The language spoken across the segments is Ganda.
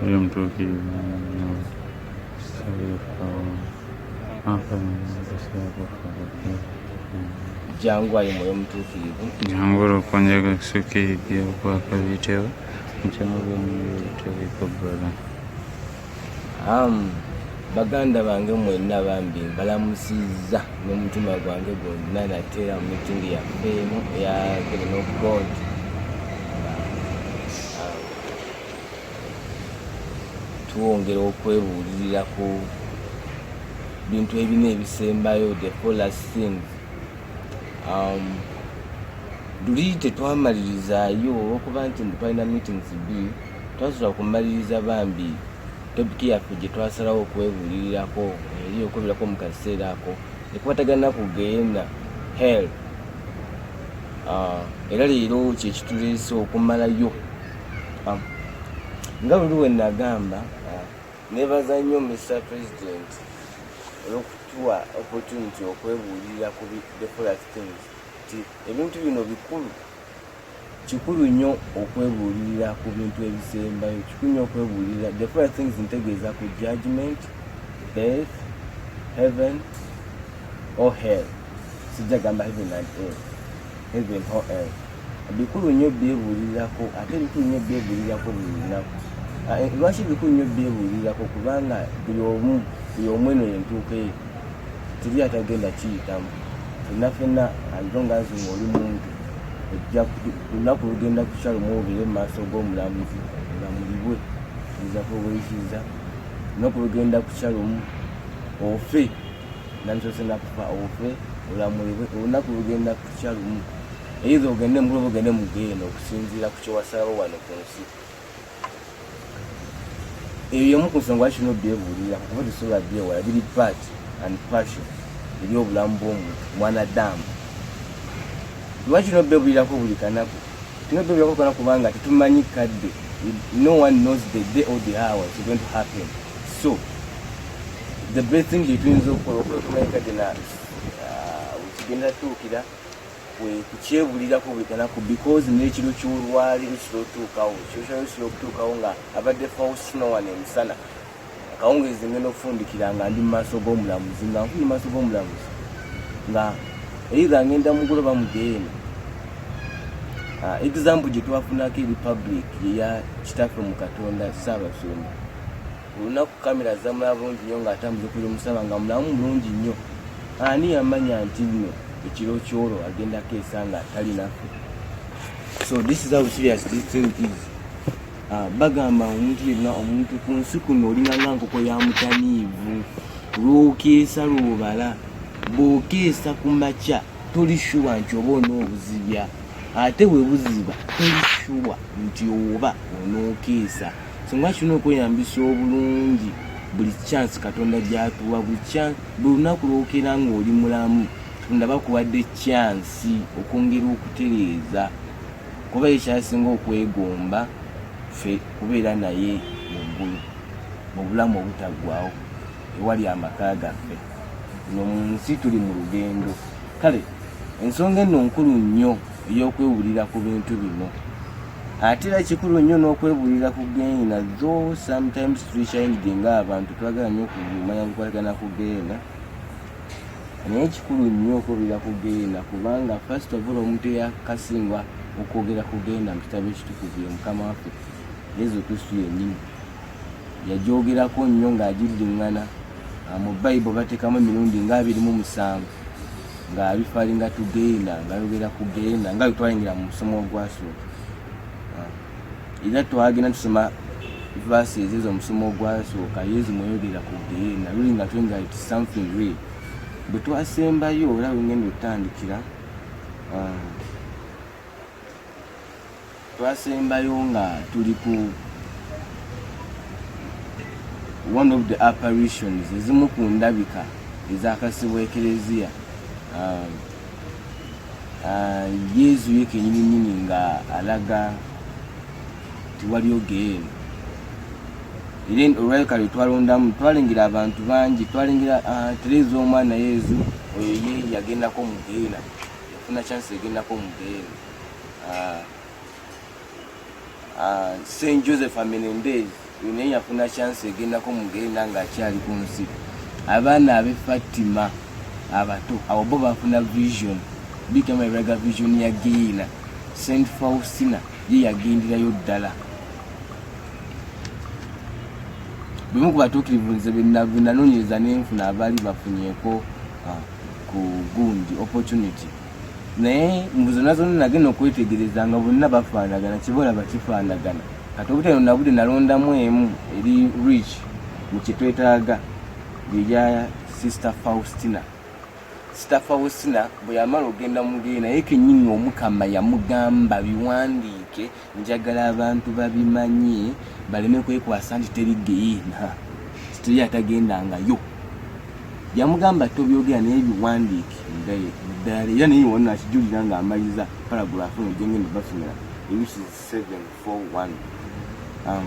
Huyo mtoki jangu ayi mwoyo mutuukirivu jangu olukonja gakusukiribya okwakabitewo mukyamubyomuyotewekobbala baganda bange mwenna bambi mbalamusizza n'omutima gwange gwonna nateera mu mitingi yaffe emu eya god twongera okwebuulirira ku bintu ebina ebisembayo the folas things um, luli tetwamalirizaayo olwokuba nti twalina meetings bi twasobola kumaliriza bambi topiki yaffe gye twasalawo okwebuulirirako eri okweberako mu kaseera ako ekwatagana kugenda hell ah, era leero kyekituleese okumalayo ah, nga luli wenagamba ah, nebaza nnyo mr president olwokutuwa opportunity okwebuulirira ku the product things nti ebintu bino bikulu kikulu nnyo okwebuulirira ku bintu ebisembayo kikulu nnyo okwebuulirira the first things ntegeeza ku judgment death heaven or hell sijja gamba heaven and hell heaven or hell bikulu nnyo byebuulirirako ate bikulu nnyo byebuulirirako buli lunaku ah, eh, lwaki bikulu nnyo byebuulirirako kubanga buli omu buli omu eno yentuuka eyo teri atagenda kiyitamu fenna fenna alongazi ngaoli muntu olunaku lugenda kukya lumwogere mu maaso g'omulamuzi olamulibwe oyinza kuweyikiza olunaku lugenda kukya lumu ofe namusose nakufa ofe olamulibwe olunaku lugenda kukya lumu eitha ogende mugulu oba ogende mugeena okusinziira ku kyewasalawo wano ku nsi eyo yemu ku nsonga lwaki no byebuulira kuba tesobola byewala biri part and passion eri obulamu bw'omuntu mwanadamu lwaki no byebuulirako buli kanaku tino byebuulirako kana kubanga tetumanyi kadde no one knows the day or the hour it's going to happen so the best thing gyetuyinza okukola okwekumanya kadde na uh, kigenda tuukira kwe kukyebulirako buli kanaku because n'ekiro ky'olwaleero kira otuukawo kyokyalo kira okutuukawo nga abadde faustina wano emisana akawungeezi ngenda okufundikira nga ndi mu maaso g'omulamuzi nga nfuni maaso g'omulamuzi nga eitha ngenda mugula oba mudeeni ah, example gye twafunako eri public yeya kitaffe mu katonda saabasumba olunaku kamera zamulaba bulungi nnyo ng'atambuza okuli omusaba nga mulamu mulungi nnyo ani yamanya nti nno ekiro kyolo agendako esanga atali naffe so this is how serious this thing is ah, bagamba omuntu yenna omuntu ku nsi kuno olinganga nkoko ya mutaniivu lwokeesa lwobala bwokeesa ku makya toli shuwa nti oba onoobuzibya ate webuziba toli shuwa nti oba onookeesa Singa tulina okweyambisa obulungi buli chance Katonda gy'atuwa, buli chance, buli lunaku lw'okeera ng'oli mulamu, Katonda aba akuwadde chance okwongera okutereeza kuba ye kyasinga okwegomba ffe kubeera naye mu ggulu mu bulamu obutaggwawo ewali amaka gaffe. Eno mu nsi tuli mu lugendo. Kale ensonga eno nkulu nnyo ey'okwewulira ku bintu bino. ate era kikulu nnyo n'okwebuulira ku geena though sometimes tulikyayinidde nga abantu twagala nnyo okumanya kukwatagana ku geena naye kikulu nnyo okwebulira ku geena kubanga first of all omuntu eyakasingwa okwogera ku geena mu kitabo ekitukuvu ye mukama waffe yesu kristu yennyini yagyogerako nnyo ng'agiddiŋŋana mu bayibo bateekamu emirundi ng'abirimu musanvu nga bifalinga tugenda nga yogera kugenda nga wetwayingira mu musomo ogwasooka ah. era twagenda tusoma vasi ezezo omusomo ogwasooka yezu mweyogera kugenda luli nga twinga it something real bwe twasembayo era wengenda otandikira ah. Twasembayo nga tuli ku one of the apparitions ezimu ku ndabika ezakasibwa ekereziya um, uh, yezu ye kenyininyini nga alaga tiwaliyo geena era olwaleka lwe twalondamu twalengera abantu bangi twalengera uh, tereza omwana yezu oyo ye yagendako mu geena yafuna chance egendako mu geena ah, ah, St. Joseph Amenendez naye yafuna chance egendako mugenda nga akyali ku nsi abaana abe Fatima abato abo bo bafuna vision bigamba biraga vision ya Geina St. Faustina ye yagenderayo ddala bimu ku batuukirivu nze benanonyereza nenfuna abaali bafunyeko ah, ku gundi opportunity naye mbu zonna zonna nagenda okwetegereza nga bonna bafaanagana kibolaba kifaanagana kati obuteno nabude nalondamu emu eri rich mukyetwetaaga byeya sister faustina sister faustina bwe yamala ogenda mugee naye kenyini omukama yamugamba biwandiike njagala abantu babimanye baleme kwekwasa nti teri geyiina teri atagendangayo yamugamba tobyogera naye biwandiike muddala era naye wonna akijulira nga amaliza paragrafu no gyengenda basomera which is 741 um,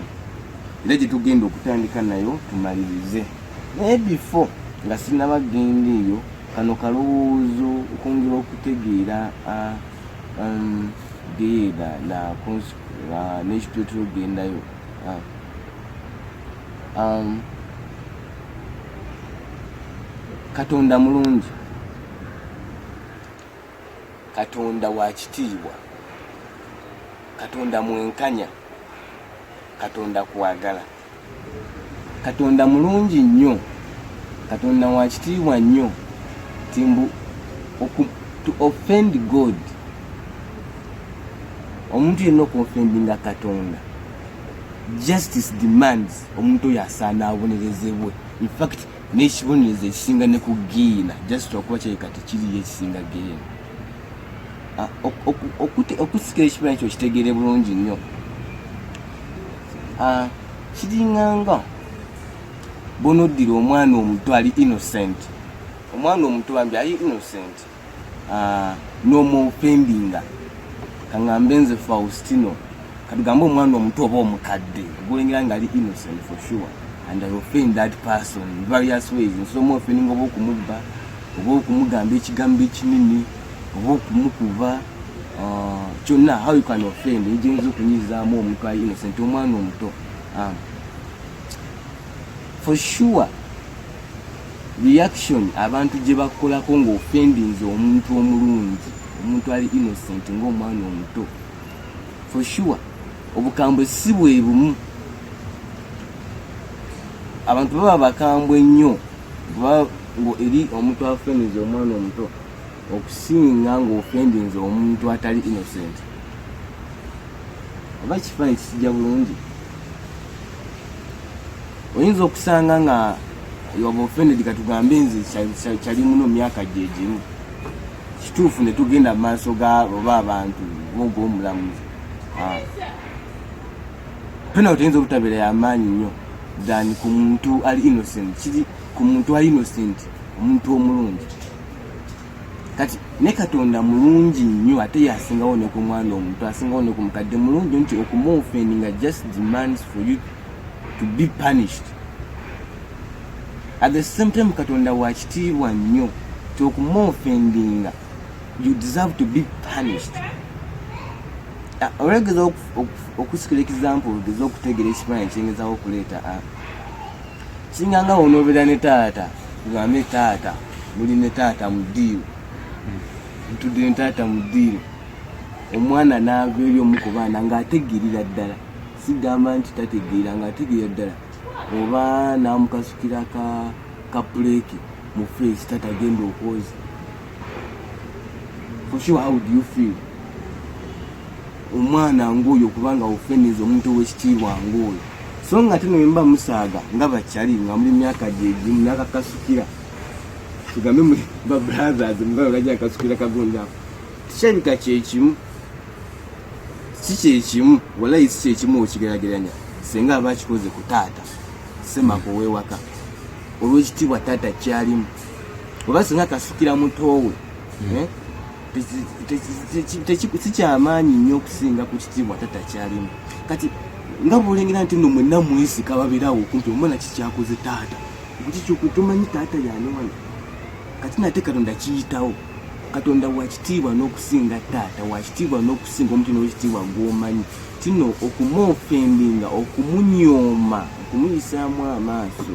era gyetugenda okutandika nayo tumalirize naye before nga sinaba genda eyo kano kalowoozo okwongera okutegeera uh, um, genda nakunsukula nekitutu gendayo ah. um, katonda mulungi katonda wakitiibwa katonda mwenkanya katonda kwagala katonda mulungi nnyo katonda wakitiibwa nnyo timbu to offend god omuntu yenna okuofendinga katonda justice demands omuntu oyo asaana abonerezebwe infact nekibonerezo ekisinga ne ku giina just okuba kyeka tekiriyo ekisinga giina ah, okusikira ekibonerezo ekyo kitegeere bulungi nnyo Ah, kiringanga bonoddira omwana omuto ali innocent omwana omuto bambi ali innocent ah, nomupendinga kaŋambe nze faustino katugambe omwana omuto oba omukadde ogulengera nga ali innocent for sure and i offend that person various ways nsobola omuofeninga oba okumubba oba okumugamba ekigambo ekinini oba okumukuba uh, kyonna how you can offend ejenza okunyizaamu omuntu ali innocent omwana omuto um, for sure reaction abantu gye bakolako ng'ofendinze omuntu omulungi omuntu ali innocent ng'omwana omuto for sure obukambwe si bwe bumu abantu baba bakambwe nnyo eri omuntu afendinze omwana omuto okusinga ng'ofendinze omuntu atali innocent oba ekifaananyi kisijja bulungi oyinza okusanga nga yoba ofended katugambe nze kyali muno myaka gyegimu kituufu ne tugenda mu maaso ga oba abantu oga omulamuzi ah. pena otuyinza obutabeera yamaanyi nnyo than ku muntu ali innocent kiri ku muntu ali innocent omuntu omulungi kati ne katonda mulungi nnyo ate yasingawo ne ku mwana omuntu asingawo ne ku mukadde mulungi nti okumuofendi nga just demands for you to be punished at the same time katonda wakitiibwa nnyo ti okumuofendinga you deserve to be punished ah, olegeza okusikira example ogeza okutegera ekifaananyi kyengezawo okuleeta ah, singa nga wonobera ne taata tugambe taata muli ne taata mu ddiiro ntudde ne taata mu ddiiro omwana naava eri omu ku baana ng'ategeerera ddala sigamba nti tategeera ng'ategeera ddala oba n'amukasukira ka puleeki mu feesi tatagenda okwoza for sure how do you feel omwana ng'oyo kubanga ofeniza omuntu ow'ekitiibwa ng'oyo so nga tino mba musaaga nga bakyali nga muli myaka gyegimu nakakasukira tugambe muli ba brothers mugalo gajja akasukira kagundaako tikirabika kyekimu si kyekimu walayi si kyekimu okigerageranya senga aba akikoze ku taata semaka ow'ewaka olw'ekitiibwa taata kyalimu oba singa kasukira mutoowe hmm. eh, sikyamaanyi nnyo okusinga ku kitiibwa tata kyalimu kati nga bwolengera nti no mwena mwesika babirawo okumpi omwana kikyakoze taata kukikyokutumanyi taata yani wano kati nate katonda kiyitawo katonda wakitiibwa n'okusinga taata wakitiibwa n'okusinga omuntu nowekitiibwa gwomanyi kino okumwofendinga okumunyooma okumuyisaamu amaaso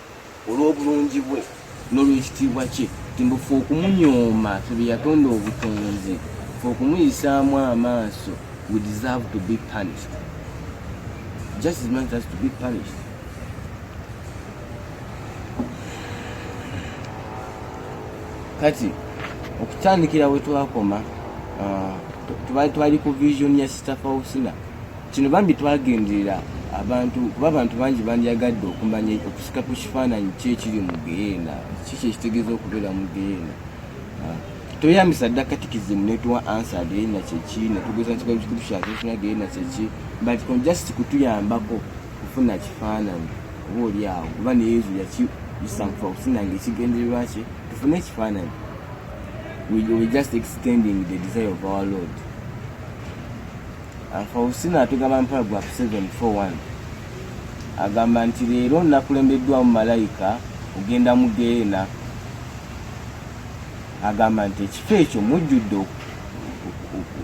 olw'obulungi bwe n'olw'ekitiibwa kye ti mbu fe okumunyooma fe bye yatonda obutonzi fe okumuyisaamu amaaso we deserve to be punished just as much as to be punished kati okutandikira we twakoma uh, twali ku vision ya sister fausina Kino bambi twagenderera abantu kuba abantu bangi bandyagadde okumanya okusika ku kifaananyi ki ekiri mu geyeena kiki ekitegeeza okubeera mu geyeena ah, toyambisa dda katikizimu netuwa ansa geyeena kyeki netugeza nti bali kikulu kya tufuna geyeena kyeki but kon just kutuyambako kufuna kifaananyi oba oli awo kuba ne yesu yakisanfa okusinanga ekigendererwa kye tufune ekifaananyi we just extending the desire of our lord Faustina atugamba mu paragraph 741 agamba nti leero nakulembeddwamu malayika ogenda mu geena agamba nti ekifo ekyo mujjudde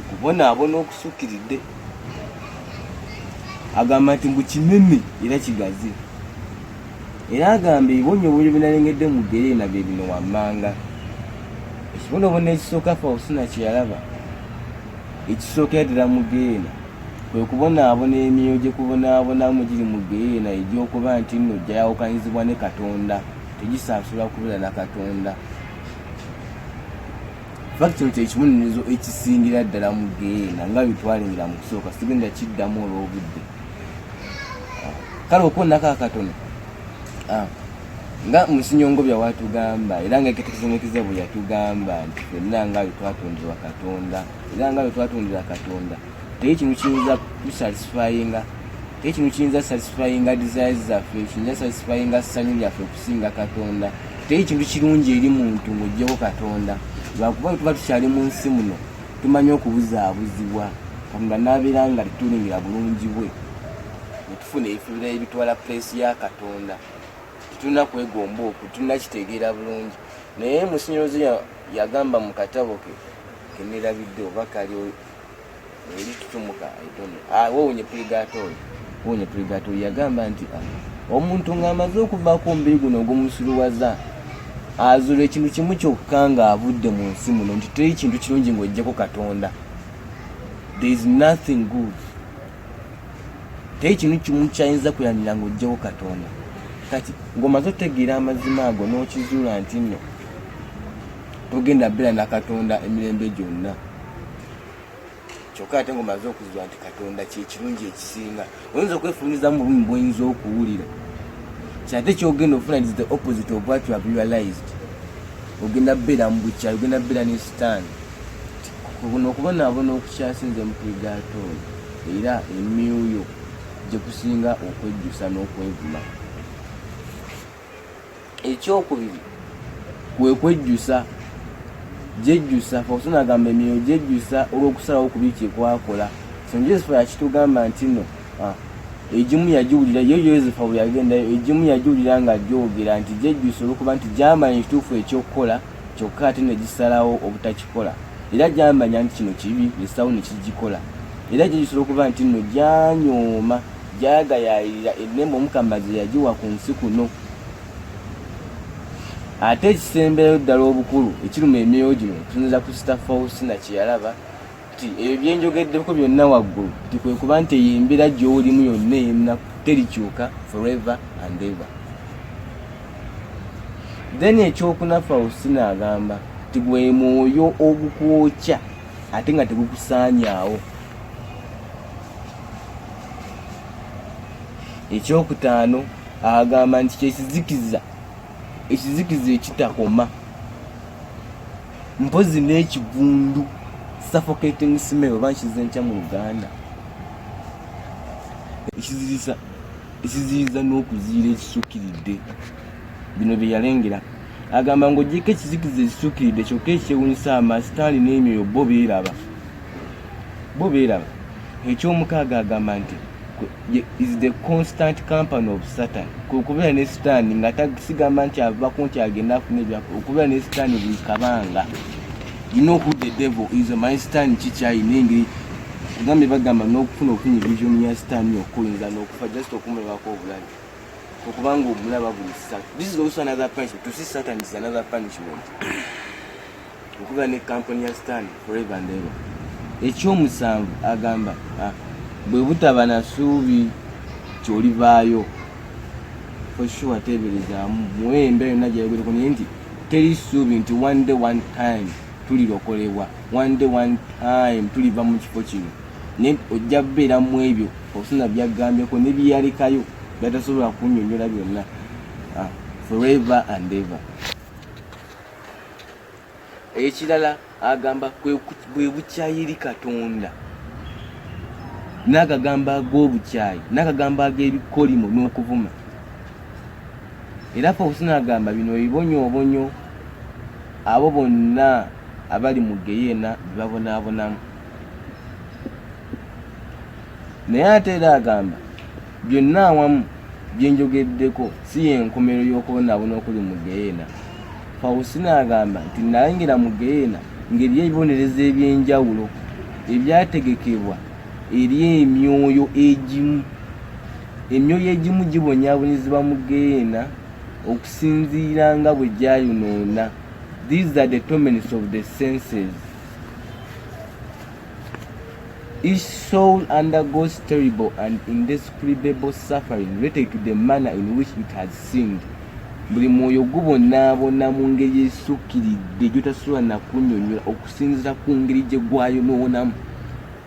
okubonaabona okusukkiridde agamba nti mbu kinene era kigazi era agamba ebibonyoobonyo binalengedde mu gereena bye bino wammanga ekibonoobona ekisooka fausina kyeyalaba Ekisooka ddala mu ggeyeena kwe kubonaabona emyoyo gye kubonaabonamu giri mu ggeyeena egy'okuba nti nno gyayawukanyizibwa ne Katonda, tegisaasula kubeera na Katonda. Faki kino kye kibonerezo ekisingira ddala mu ggeyeena nga bye twalengera mu kusooka, sigenda kiddamu olw'obudde. Kale okwonako akatono. Ah. nga musinyongo bya watugamba era nga eketekezemekize bwe yatugamba nti fenna nga bwe twatonderwa katonda era nga bwe twatondera katonda teri kinu kiyinza kusatisfyinga teri kinu kiyinza satisfyinga desires zaffe kiyinza satisfyinga ssanyu lyaffe okusinga katonda teri kintu kirungi eri muntu ng'ojjeko katonda lwakuba bwe tuba tukyali mu nsi muno tumanyi okubuzaabuzibwa katonda n'abeera nga tetulingira bulungi bwe ne tufuna ebifubira ebitwala pulesi ya katonda tetulina kwegomba okwo tulina kitegeera bulungi naye musinyozi yagamba mu katabo ke kenerabidde oba kali eri tutumuka etono ah, wowunye purigatori wowunye purigatori yagamba nti ah, omuntu ng'amaze okuvaako omubiri guno ogumusiruwaza azula ekintu kimu kyokka ng'avudde mu nsi muno nti teri kintu kirungi ng'ojjeko katonda there is nothing good teri kintu kimu kyayinza kuyanira ng'ojjawo katonda kati ng'omaze otegeera amazima ago n'okizuula nti nno togenda bbeera na katonda emirembe gyonna kyokka ate ng'omaze okuzuula nti katonda kyekirungi ekisinga oyinza okwefumizamu bulumi bwoyinza okuwulira kyate kyogenda ofuna is the opposite of what you have realized ogenda bbeera mu bukyayi ogenda bbeera ne sitaani Kuno okubonaabona okukyasinze mu Purigaatooli era emyuyo gye kusinga okwejjusa n'okwevuma. Ekyokubiri kwe kwejjusa gyejjusa fawusoni agamba emyoyo gyejjusa olw'okusalawo ku biki kyekwaakola st joseph yakitugamba nti no ah, egimu yagiwulira ye yosefa bwe yagendayo egimu yagiwulira nga gyogera nti gyejjusa olwokuba nti gyamanyi kituufu ekyokukola kyokka ate ne gisalawo obutakikola era gyamanya nti kino kibi nesawo ne kigikola era gye gisobola okuba nti nno gyanyooma gyagayayirira ennema omukama ze yagiwa ku nsi kuno ate ekisemberayo ddala obukulu ekiruma emyoyo gino tusinza ku sita fausina kye yalaba nti ebyo byenjogeddeko byonna waggulu nti kwe kuba nti eyo embeera gy'olimu yonna eyennaku terikyuka forever and ever then ekyokuna faustina agamba nti gwe mwoyo ogukwokya ate nga tegukusaanyaawo ekyokutaano agamba nti kyekizikiza ekizikiza ekitakoma mpozi n'ekivundu suffocating smell oba nkize ntya mu luganda ekiziriza ekiziriza n'okuziira ekisukkiridde bino bye yalengera agamba ng'ogyeko ekizikiza ekisukkiridde kyokka ekyewunyisa amasitaani n'emyoyo bo beeraba bo beeraba eky'omukaaga agamba nti is the constant company of satan okubeera ne sitaani nga tasigamba nti avako nti agenda afuna ebyapa okubeera ne sitaani buli kabanga you know who the devil is my sitaani kikyayina engeri agambye bagamba n'okufuna okufuna evision ya sitaani okuyinza n'okufa just okumulabako obulabi okubanga omulaba buli sat this is also another punishment to see satan is another punishment okuba ne kampuni ya stan forever and ever ekyomusanvu agamba ah, bwe butaba na suubi kyolivaayo for sure teeberezaamu muwe embeera yonna gyayogereko naye nti teri suubi nti one day one time tulirokolebwa one day one time tuliva mu kifo kino naye ojja kubeera mu ebyo okusina byagambyeko ne byeyalekayo byatasobola kunyonyola byonna ah, forever and ever ekirala agamba bwe bukyayiri katonda n'agagambo ag'obukyayi n'agagambo ag'ebikolimo n'okuvuma era fawusina agamba bino ebibonyoobonyo abo bonna abali mu geyeena bebabonaabonamu naye ate era agamba Byonna awamu bye njogeddeko si y'enkomerero y'okwonaabona okuli mu ggeyeena. Faustina agamba nti, Nnayingira mu ggeyeena ng'eriyo ebibonerezo eby'enjawulo ebyategekebwa eri emyoyo egimu. Emyoyo egimu gibonyaabonyezebwa mu ggeyeena okusinziira nga bwe gyayonoona. These are the torments of the senses. Each soul undergoes terrible and indescribable suffering related to the manner in which it has sinned. Buli mwoyo gubonaabona mu ngeri esukkiridde gyotasobola nakunyonyola okusinzira ku ngeri gye gwayonoonamu.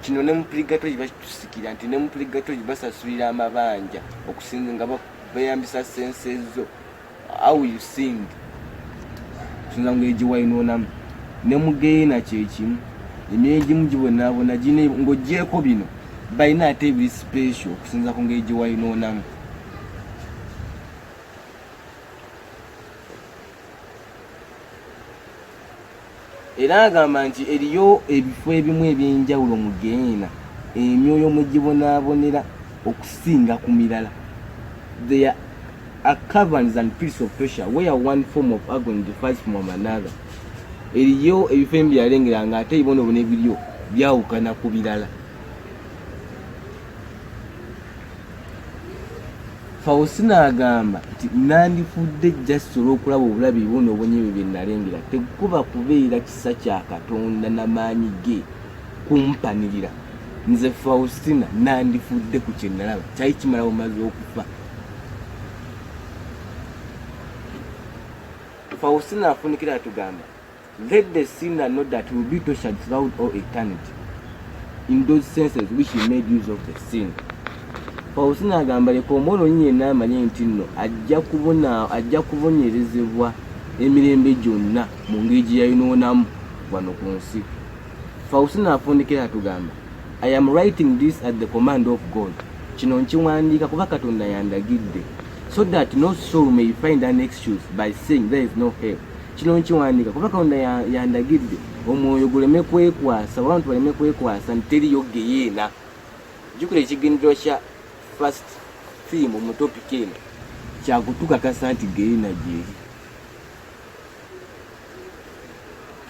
Kino ne mu purigatori bakitusikira nti ne mu purigatori basasulira amabanja okusinza nga beeyambisa sense zo. how you sing tusinza ngeri gye wayinoonamu ne mugeina kyekimu emyoyo egimu gibonaabona gine ng'ogyeko bino balina ate ebiri sipesho okusinza ku ngeri gye wayinoonamu Era agamba nti eriyo ebifo ebimu eby'enjawulo mu Geyeena emyoyo mwe gibonaabonera okusinga ku mirala. There are caverns and pits of torture where one form of agony differs from another. Eriyo ebifo ebimu byalengera ng'ate ebibonobono ebiriyo byawukana ku birala. fausina agamba nti nandifudde just olwokulaba obulabi buno obunyibi bye nalengera tekuba kubeera kisa kya katonda na maanyi ge kumpanirira nze faustina nandifudde ku kyenalaba kyali kimala bumaze okufa faustina afunikira atugamba Let the sinner know that he will be tortured throughout all eternity in those senses which he made use of the sin. Faustina agamba leka omwonoonyi yenna amanye nti nno ajja kubona ajja kubonyerezebwa emirembe gyonna mu ngeri gye yayonoonamu wano ku nsi. Faustina afundikira atugamba I am writing this at the command of God. Kino nkiwandiika kuba Katonda yandagidde so that no soul may find an excuse by saying there is no help. kino nkiwandiika kuba katonda yandagidde omwoyo guleme kwekwasa oba abantu baleme kwekwasa nti teriyo geyeena jukira ekigendero kya fast theme mu topiki eno kyakutukakasa nti geyeena gyeri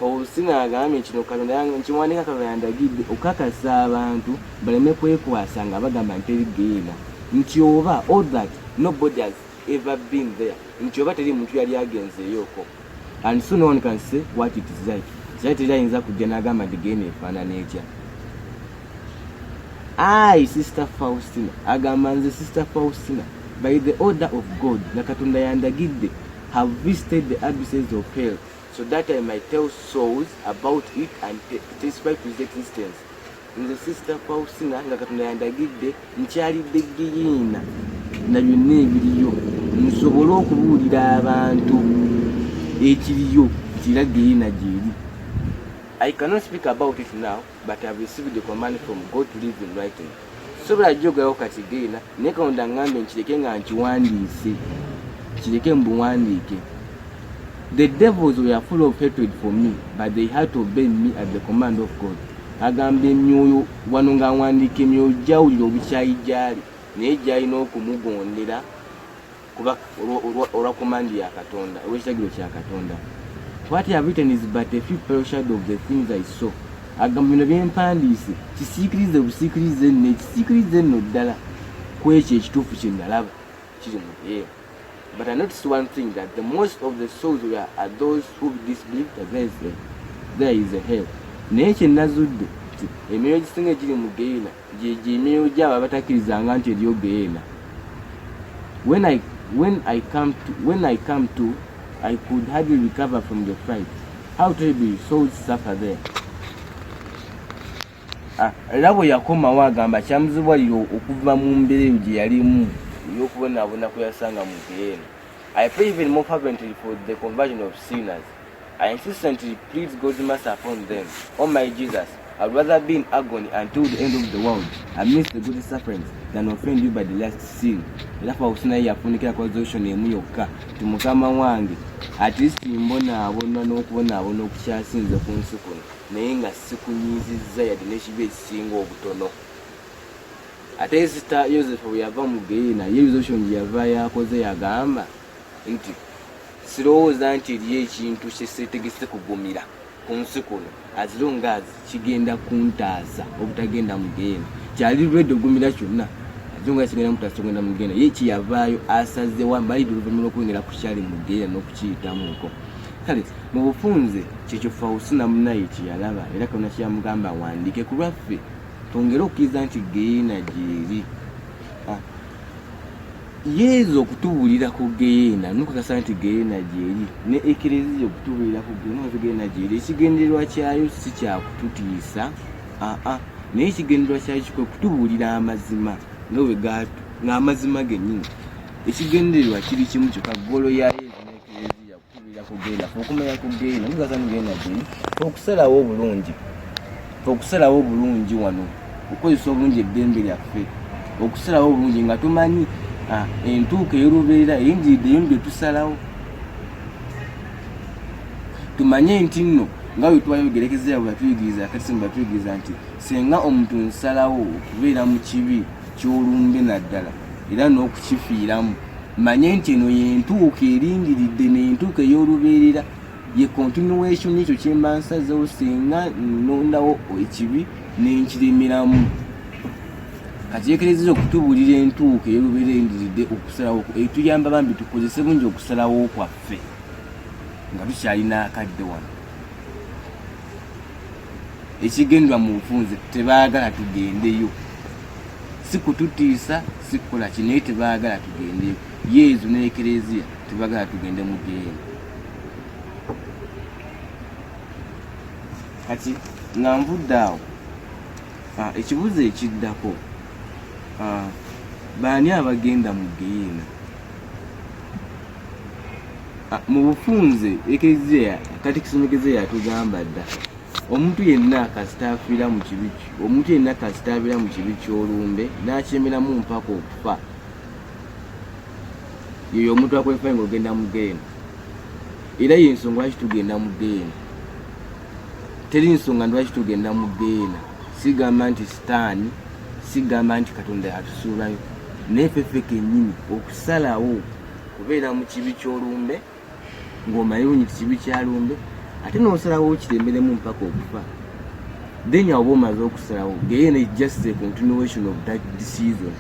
obusina agambye kino katonda nkiwandiika katonda yandagidde okukakasa abantu baleme kwekwasa nga bagamba nti eri geyeena nti oba all that nobody has ever been there nti oba teri muntu yali agenzeeyoko and soon one can say what it is like kyali teri ayinza kujja n'agamba nti genda efaanana etya ai sister faustina agamba nze sister faustina by the order of god nga katonda yandagidde have visited the abysses of hell so that i might tell souls about it and testify to its existence nze sisita fausina nga katonda yandagidde nkyalidde giyina na byonna ebiriyo nsobole okubuulira abantu ekiriyo kira giyina gyeri i cannot speak about it now but ihave received the command from god to live in writing sobola jogerawo kati giyina naye katonda ngambe nkireke nga nkiwandiise kireke mbuwandiike the devils were full of hatred for me but they had to obey me at the command of god Agamba emyoyo wano ng'awandiika emyoyo gyawulira obukyayi gy'ali naye gy'alina okumugondera kuba olwa komandi ya Katonda olw'ekiragiro kya Katonda. What I have written is but a few pale shadow of the things I saw. Agamba bino bye mpandiise kisiikirize busiikirize nno ekisiikirize nno ddala ku ekyo ekituufu kye nalaba kiri mu eyo. But I noticed one thing that the most of the souls were are those who disbelieve that there is a, there is a hell. Naye kye nazudde nti emyoyo egisinga egiri mu geyeena gye gy'emyoyo gy'abo abatakkirizanga nti eriyo geyeena. When I when I come to when I come to I could hardly recover from the fright. How terribly souls suffer there. Ah, era bwe yakomawo agamba kyamuzibuwalira okuva mu mbeera eyo gye yalimu ey'okubonaabona kwe yasanga mu geyeena i pray even more fervently for the conversion of sinners i insistently plead god's mercy upon them o oh my jesus i'd rather be in agony until the end of the world amidst the good sufferings than offend you by the last sin era fawusi naye yafunikira ku resolution emu yokka ti mukama wange at least mbonaabona n'okubonaabona okukyasinze ku nsi kuno naye nga sikunyiizizza yadde n'ekibi ekisinga obutono ate sita yosefu bwe yava mu geyiina ye resolution gye yava yakoze yagamba nti sirowooza nti eriyo ekintu kyeseetegese kugumira ku nsi kuno as long as kigenda kuntaasa obutagenda mu geyiina kyali lwedde ogumira kyonna zonga sigenda mutaso ngenda mugenda ye kiyavaayo asazewa mbalidde oluvannyuma lw'okwengera ku kyali mu geyiina n'okukiyitamuko kale mu bufunze kyekyo fausina munaye kyeyalaba era kaona kyeyamugamba awandiike ku lwaffe twongere okukkiriza nti geyeena gyeri ah. yezu okutubuulira ku geyeena nokakasa nti geyeena gyeri ne ekereziya okutubuulira ku geyeena gyeri ekigendererwa kyayo si kyakututiisa aa ah, ah. naye ekigendererwa kyayo kikwe kutubuulira amazima nga bwe gaatu ng'amazima gennyini ekigendererwa kiri kimu kyokka golo ya yezu okusalawo obulungi okusalawo obulungi wano okukozesa obulungi eddembe lyaffe okusalawo obulungi nga tumanyi ah, entuuka eyolubeerera eyingiridde eyo gyetusalawo tumanye nti nno nga bwe twayogerekezera bwe batuyigiriza kati simu batuyigiriza nti senga omuntu nsalawo okubeera mu kibi ky'olumbe naddala era n'okukifiiramu manye nti eno yentuuka erindiridde nentuuka ey'olubeerera ye continuation ekyo kyemba nsazewo singa nondawo ekibi nenkiremeramu kakyekerezeza okutubulira entuuka ey'olubeerera eyendiridde okusalawo etuyamba bambi tukozese bungi okusalawo kwaffe nga tukyalina akadde wano ekigendwa mu nfunze tebaagala tugendeyo si kututiisa si kukola ki naye tebaagala tugende yezu ne ekereziya tebagala tugende mu geeni kati nga nvudde awo ah, ekibuzo ekiddako ah, baani abagenda mu geyiina ah, mu bufunze ekereziya katikisomegeze yatugamba dda omuntu yenna kasita afiira mu kibi Omuntu yenna kasita abeera mu kibi ky'olumbe n'akyemeramu mpaka okufa, yeyo omuntu akwalifayo nga ogenda mu geena, era ye nsonga lwaki tugenda mu geena. Teri nsonga lwaki tugenda mu geena, sigamba nti sitaani, sigamba nti Katonda yatusuulayo, naye feffe kennyini okusalawo kubeera mu kibi ky'olumbe. ng'omanyi bunyi kibi kya lumbe ate n'osalawo okiremeremu mpaka okufa then oba omaze okusalawo geyeena is just a continuation of that decision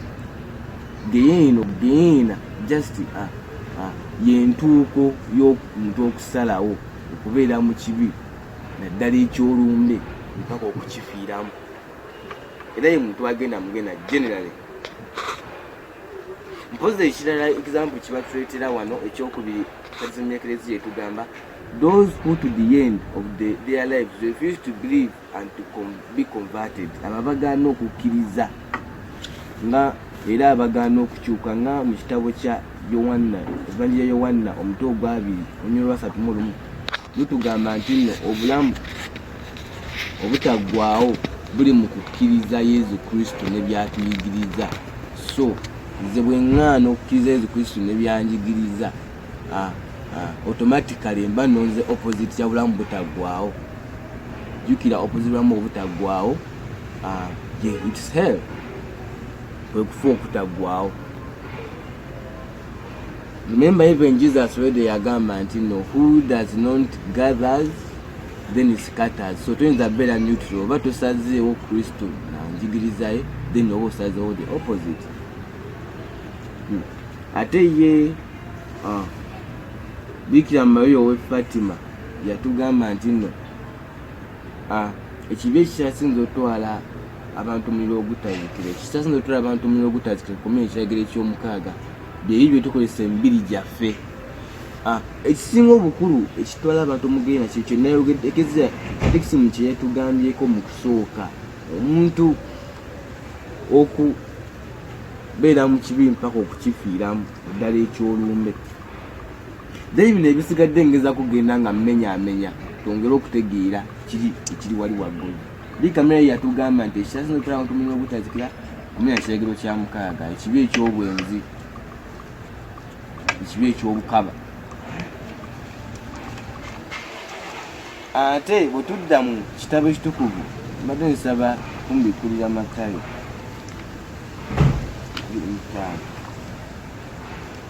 geyeeno geyeena just a, a, yentuuko y'omuntu okusalawo okubeera mu kibi naddala ekyolumbe mpaka okukifiiramu era ye muntu agenda mugenda generally mpozi ekirala example kiba tuletera wano ekyokubiri kazimya ekereziya etugamba those who to the end of the, their lives refuse to believe and to com be converted abo abagaana okukkiriza nga era abagaana okukyuka nga mu kitabo kya yowanna evanjira yowanna omutwe ogwabiri onyolwasatu mu lumu lutugamba nti nno obulamu obutaggwaawo buli mu kukkiriza yezu kristo ne byatuyigiriza so nze bwe ŋŋaana okukkiriza yezu kristo ne byanjigiriza automatically mba nonze opposite kya bulamu butaggwaawo jjukira opposite bulamu obutaggwaawo its hell kwe kufa okutaggwaawo Remember even Jesus already yagamba nti no who does not gathers then scatters. So toyinza beera neutral oba tosazeewo Kristo na njigiriza ye then oba osazeewo the opposite. Hmm. Ate ye ah, Bikira Maria owe Fatima yatugamba nti no Ah, ekibi ekikyasinza otwala abantu muliro ogutazikira ekikyasinza otwala abantu muliro ogutazikira kukomera ekiragiro ekyomukaaga byebyo byetukozesa emibiri gyaffe ah, ekisinga obukulu ekitwala abantu mugenda kyekyo nayogeekeza tekisimu kyeyatugambyeko mu kusooka omuntu okubeera mu kibi mpaka okukifiiramu ddala ekyolumbe naye bino ebisigadde ngeza kugenda nga mmenyamenya twongere okutegeera kiri ekiri wali waggulu li kamera ye yatugamba nti ekisasina okutala mu tumuliro ogutazikira omenya kiragiro kya mukaaga ekibi eky'obwenzi ekibi eky'obukaba ate bwe tudda mu kitabo ekitukuvu mbadde nsaba kumbikulira matayo abiri mutaano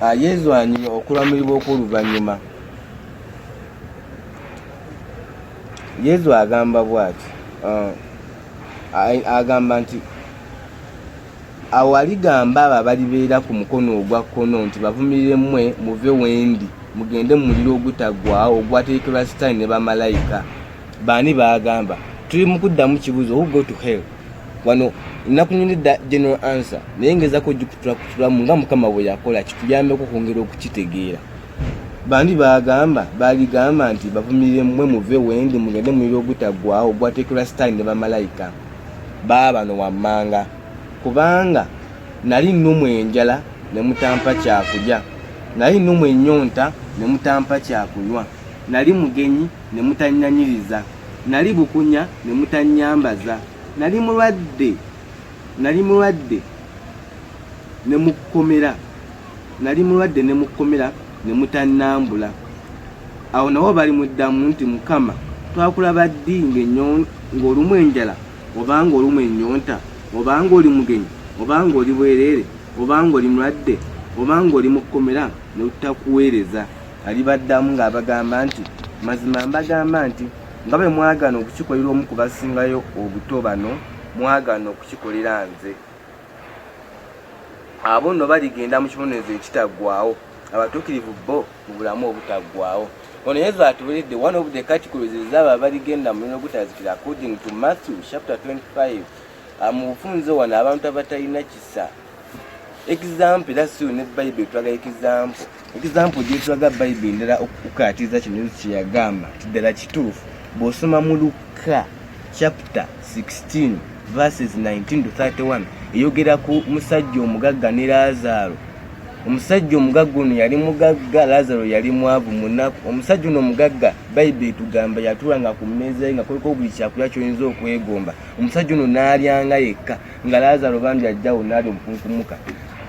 Ah, yezwanyi okulamulibwa okw'oluvannyuma yezu agamba bwati ah, agamba nti awaligamba abo abalibeera ku mukono ogwa kkono nti bavumirire mmwe muve wendi mugende mu muliro ogutaggwawo ogwateekerwa sitaani ne bamalayika baani baagamba tuli mu kuddamu kibuuzo who go to hell wano nakunyonedda general answer naye ngezako ojikutulakutulamu nga mukama bwe yakola kituyambeko okwongera okukitegeera bandi bagamba baligamba nti bavumirire mwe muve wendi mugende muliro ogutaggwawo ogwateekerwa sitaani ne bamalayika baabano wammanga kubanga nali nnumu enjala ne mutampa kyakulya nali nnumu ennyonta ne mutampa kyakunywa nali mugenyi ne mutannyaniriza, nnali bukunya ne mutannyambaza, nnali mulwadde nnali mulwadde ne mu kkomera nnali mulwadde ne mu kkomera ne mutannambula. Awo nabo balimuddamu nti, Mukama, twakulaba ddi ng'olumu enjala, oba ng'olumu ennyonta, oba ng'oli mugenyi, oba ng'oli bwereere, oba ng'oli mulwadde, oba ng'oli mu kkomera, ne tutakuweereza? Alibaddamu ng'abagamba nti, Mazima mbagamba nti, nga bwe mwagaana okukikolera omu ku basingayo obuto bano, mwagaana okukikolera nze. Abo nno baligenda mu kibonerezo ekitaggwaawo, abatuukirivu bo mu bulamu obutaggwaawo. Ono Yesu atuweredde one of the categories ez'abo abaligenda mu muliro ogutazikira according to Matthew chapter 25. Ah, mu bufunze wano abantu abatalina kisa. example that's you ne bible twaga example example je twaga bible ndala okukatiza kino yesu kyeyagamba tidala kituufu bw'osoma mu lukka chapter 16 verses 19 to 31 eyogera ku musajja omugagga ne laazaaro omusajja omugagga ono yali mugagga laazaaro yali mwavu munaku omusajja ono omugagga bayibuli etugamba yatuulanga ku mmeeza ye nga kuliko buli kyakulya kyoyinza okwegomba omusajja ono n'alyanga yekka nga laazaro bambi ajjawo naabi obukunkumuka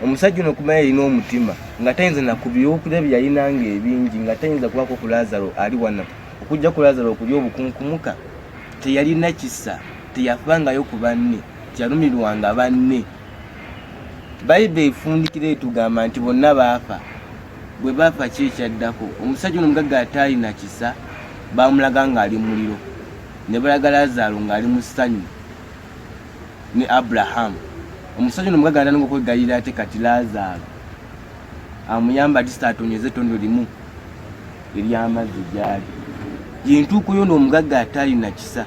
omusajja ono kumanya yalina omutima nga tayinza nakubyokulya bye yalina nga ebingi nga tayinza kubako ku laazaro ali wano okujja ku laazaro okulya obukunkumuka teyalina kisa teyafangayo ku banne teyalumirwanga banne bayibe efundikira etugamba nti bonna baafa bwe baafa ki ekyaddako omusajja ono omugagga ataalina kisa baamulaga ng'ali muliro ne balaga laazaro ng'ali mu ssanyu ne abraham omusajja no mugaganda ngo kwegayira ate kati lazaro amuyamba ati satonyeze tondo limu eryamazzi gyali yentuuko yo n'omugagga ataalina kisa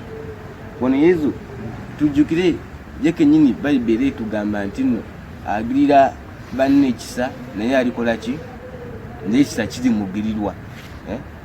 wano yezu tujjukire ye kenyini bayibuli etugamba nti nno agirira banne ekisa naye alikola ki naye ekisa kiri mugirirwa eh?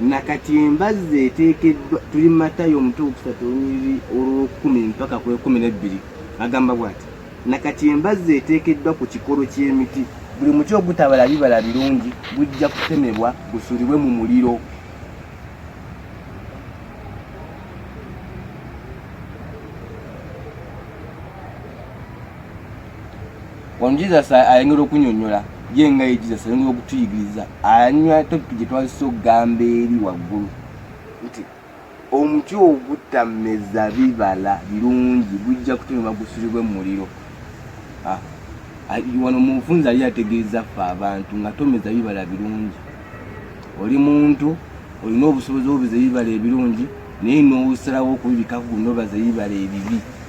na kati embazzi eteekeddwa tuli matayo omutwe okusatu olunyiriri olwokumi mpaka ku ekumi n'ebbiri agamba bw'ati na kati embazzi eteekeddwa ku kikolo ky'emiti buli muti ogutabala bibala birungi gujja kutemebwa gusulibwe mu muliro Wano Jesus ayongera okunyonyola ye nga ye Jesus ayongera okutuyigiriza anywa topic gye twazisa okugamba eri waggulu nti omuti ogutameza bibala birungi gujja kutemebwa gusulibwe mu muliro ah, wano mufunzi ali ategeeza ffe abantu nga tomeza bibala birungi oli muntu olina obusobozi obubeza ebibala ebirungi naye n'osalawo okubibikaku nobaza ebibala ebibi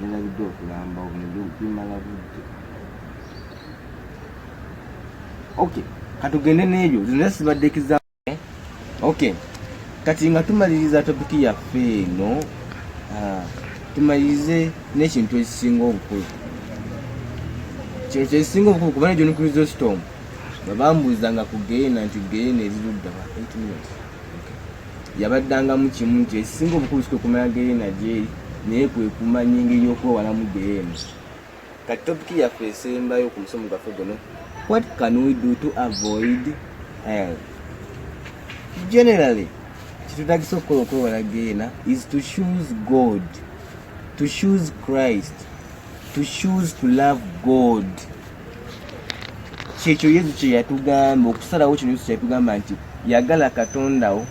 nalabidde okulamba obumala budde ok katugende n'ebyo zino sibadde kiza ok kati nga tumaliriza topiki yaffe eno ah, tumalirize n'ekintu ekisinga obukulu kino kyekisinga obukulu kubana egyo nuclear storm bwe bambuuzanga ku geyena nti geyena eri ludda wa minutes yabaddangamu kimu nti ekisinga obukulu sikwekumanya geyena gyeri naye kwekumanya engeri y'okwewalamu geyena kati topiki yaffe esembayo ku musomo gwaffe guno what can we do to avoid hell generally kitutagisa okukola okwewala geyena is to choose god to choose christ to choose to love god kyekyo yesu kyeyatugamba okusalawo kino yesu kyeyatugamba nti yagala katondawo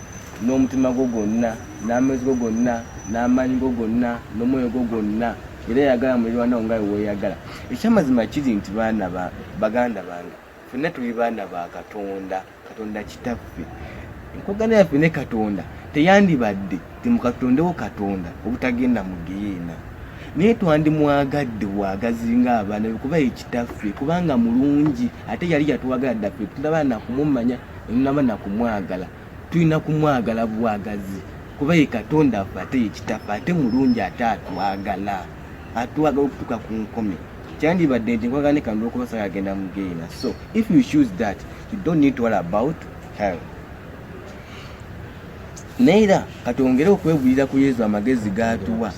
n'omutima gwo gwonna n'amezi go gonna n'amaanyi go gonna n'omwoyo gwo gwonna era yagala mulirwanawo nga weweyagala ekyamazima kiri nti baana baganda bange fenna tuli baana ba katonda katonda kitaffe enkwagana yaffe ne katonda teyandibadde temukatondewo katonda obutagenda mu geyeena naye twandimwagadde bwagazi nga abaana bekuba ekitaffe kubanga mulungi ate yali yatwagala ddaffe tulaba nakumumanya enaba nakumwagala tulina kumwagala bwagazi kuba ye katonda affe ate yekitaffe ate mulungi ate atwagala ate wagala okutuka ku nkomi kyandibadde nti nkwagala nekandi olwokuba saga agenda mu geena so if you choose that you don't need to worry about hell neera katwongere okwegulira ku yesu amagezi gatuwa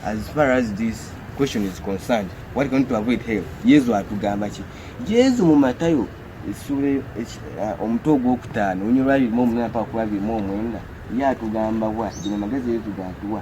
as far as this question is concerned what can to avoid hell yesu atugamba ki yesu mu matayo essuula uh, omutwe ogwokutaano onyolwabirimu omunana paka kulabirimu omwenda ye atugamba wa gino magezi yesu gatuwa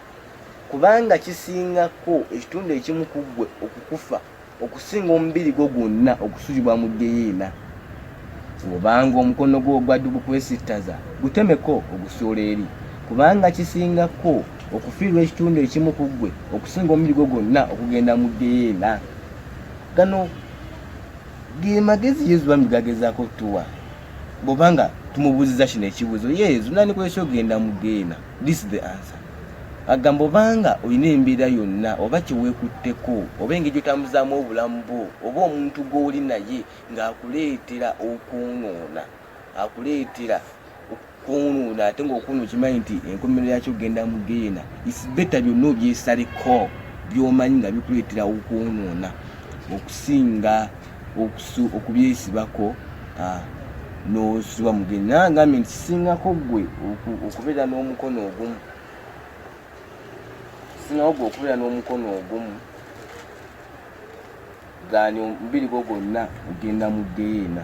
Kubanga kisingako ekitundu ekimu ku ggwe okukufa okusinga omubiri gwo gwonna okusuzibwa mu ggeyeena. Bw'obanga omukono gwo ogwa ddu gukwesittaza, gutemeko ogusuule eri. Kubanga kisingako okufiirwa ekitundu ekimu ku ggwe okusinga omubiri gwo gwonna okugenda mu ggeyeena. Gano ge magezi Yezu bambi gagezaako tuwa bw'oba nga tumubuuzizza kino ekibuuzo, Yezu, nandikuleese ogenda mu ggeyeena? this is the answer agamba obanga olina embeera yonna oba kyewekutteko oba engeri gyotambuzaamu obulamu bwo oba omuntu gw'oli naye ng'akuleetera okwonoona akuleetera okwonoona ate ngaokwono okimanyi nti enkomero yakyo okugenda mu geena isibeta byonna obyesaleko byomanyi nga bikuleetera okwonoona okusinga okusu okubyesibako ah, n'osubwa mugenyi naye agambye nti kisingako gwe okubeera n'omukono ogumu kisingako gwe okubeera n'omukono ogumu gani omubiri gwo gwonna ogenda mu geyeena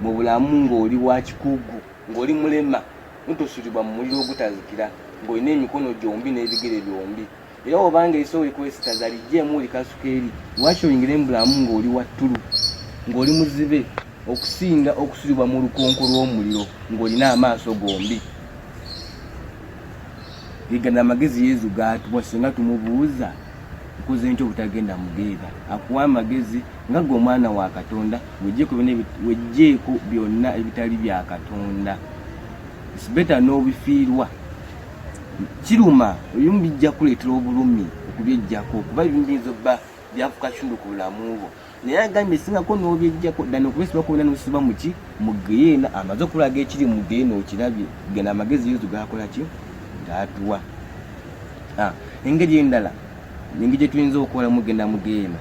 mu bulamu ng'oli wa kikugu, ng'oli mulema, n'otosulibwa mu muliro ogutazikira, ng'olina emikono gyombi n'ebigere byombi. Era obanga eriso olikwesittaza, liggyeemu olikasuka eri. Lwaki oyingire mu bulamu ng'oli wa ttulu, ng'oli muzibe, okusinga okusulibwa mu lukonko lw'omuliro ng'olina amaaso gombi? Ge gano amagezi Yezu g'atuwa singa tumubuuza, Nkoze ntya obutagenda mu ggeega? Akuwa amagezi nga ggwe omwana wa Katonda. wejjeeko byonna ebitali bya katonda its better n'obifiirwa kiruma ebimu bijja kuleetera obulumi okubyejjako kuba ebimu biyinza obba byafuka kitundu ku bulamu bwo naye agambye singako n'obyejjako ddana okubesibakubena n'osiba muki mu geyeena amaze okulaga ekiri mu geyeena okirabye gana amagezi yesu gakola ki gaatuwa ah, engeri endala engeri gyetuyinza okukola mugenda mu geyeena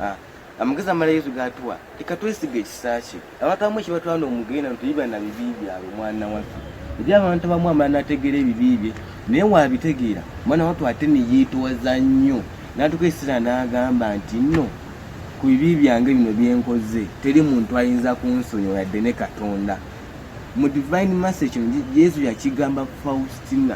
ah. amagezi amala yesu gatuwa leka twesiga ekisa kye abantu abamu ekibatwala omugenda ntuyiba na bibi byabwe omwana waffe eri abantu abamu amala nategeera ebibi bye naye wabitegeera omwana watu ate neyeetowaza nnyo natuka esira n'agamba nti nno ku bibi byange bino byenkoze teri muntu ayinza kunsonyiwa yadde ne katonda mu divine message yesu yakigamba faustina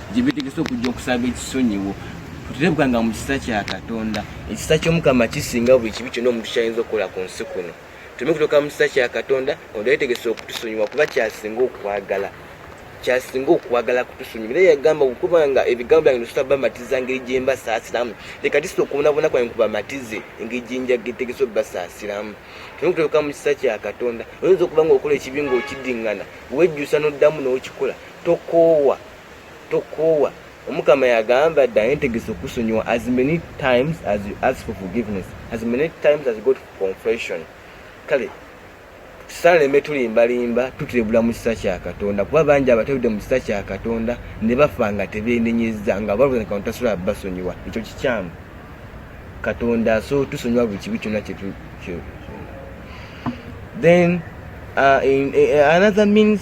gye beetegese okujja okusaba ekisonyiwo tuterebuka nga mu kisa kya katonda ekisa ky'omukama kisinga buli kibi kyonna omuntu kyayinza okukola ku nsi kuno tuleme kutoka mu kisa kya katonda katonda yeetegese okutusonyiwa kuba kyasinga okwagala kyasinga okwagala kutusonyiwa era yagamba okuba nga ebigambo byange nosobola bamatiza ngeri gye mbasaasiramu leka tisa okubonabona kwange kubamatize engeri gye njagetegese obubasaasiramu tuleme kutoka mu kisa kya katonda oyinza okuba nga okola ekibi nga okiddingana wejjusa n'oddamu n'okikola tokoowa tokoowa omukama yagamba dda naye ntegese okusonyiwa as many times as you ask for forgiveness as many times as you go to confession kale tusaleme tulimbalimba tuturebula mu kisa kya katonda kuba bangi abatabudde mu kisa kya katonda ne bafa nga tebenenyeza nga balwonekano tasobola basonyiwa ekyo kikyamu katonda so tusonyiwa buli kibi kyonna then uh, in, uh, another means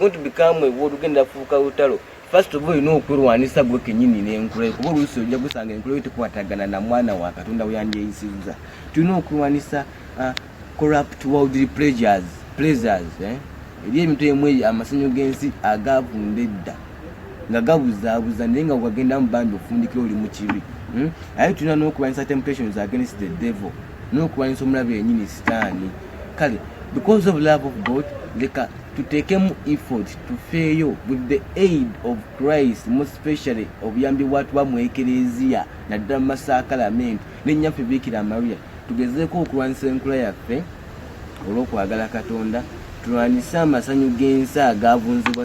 It's become a war ugenda kufuuka lutalo. First of all, olina okwelwanisa gwe kenyini n'enkula kuba oluusi ojja gusanga enkula yo tekwatagana na mwana wa Katonda we yandyeyisizza. Tulina okwelwanisa uh, corrupt worldly pleasures, pleasures eh? eri ebintu emu amasanyu g'ensi agavunda edda nga gabuzaabuza naye nga wagendamu bambi ofundikira oli mu kibi hmm? aye tulina n'okulwanyisa temptations against the devil n'okulwanyisa omulabe yennyini sitaani kale because of love of god leka tuteekemu effort tufeeyo with the aid of christ mospecially obuyambi bwatuba mu ekereziya naddala mu masaakalamenti nennyaffe biikira maria tugezeeko okulwanyisa enkula yaffe olw'okwagala katonda tulwanyise amasanyu g'ensi agaavunzibwa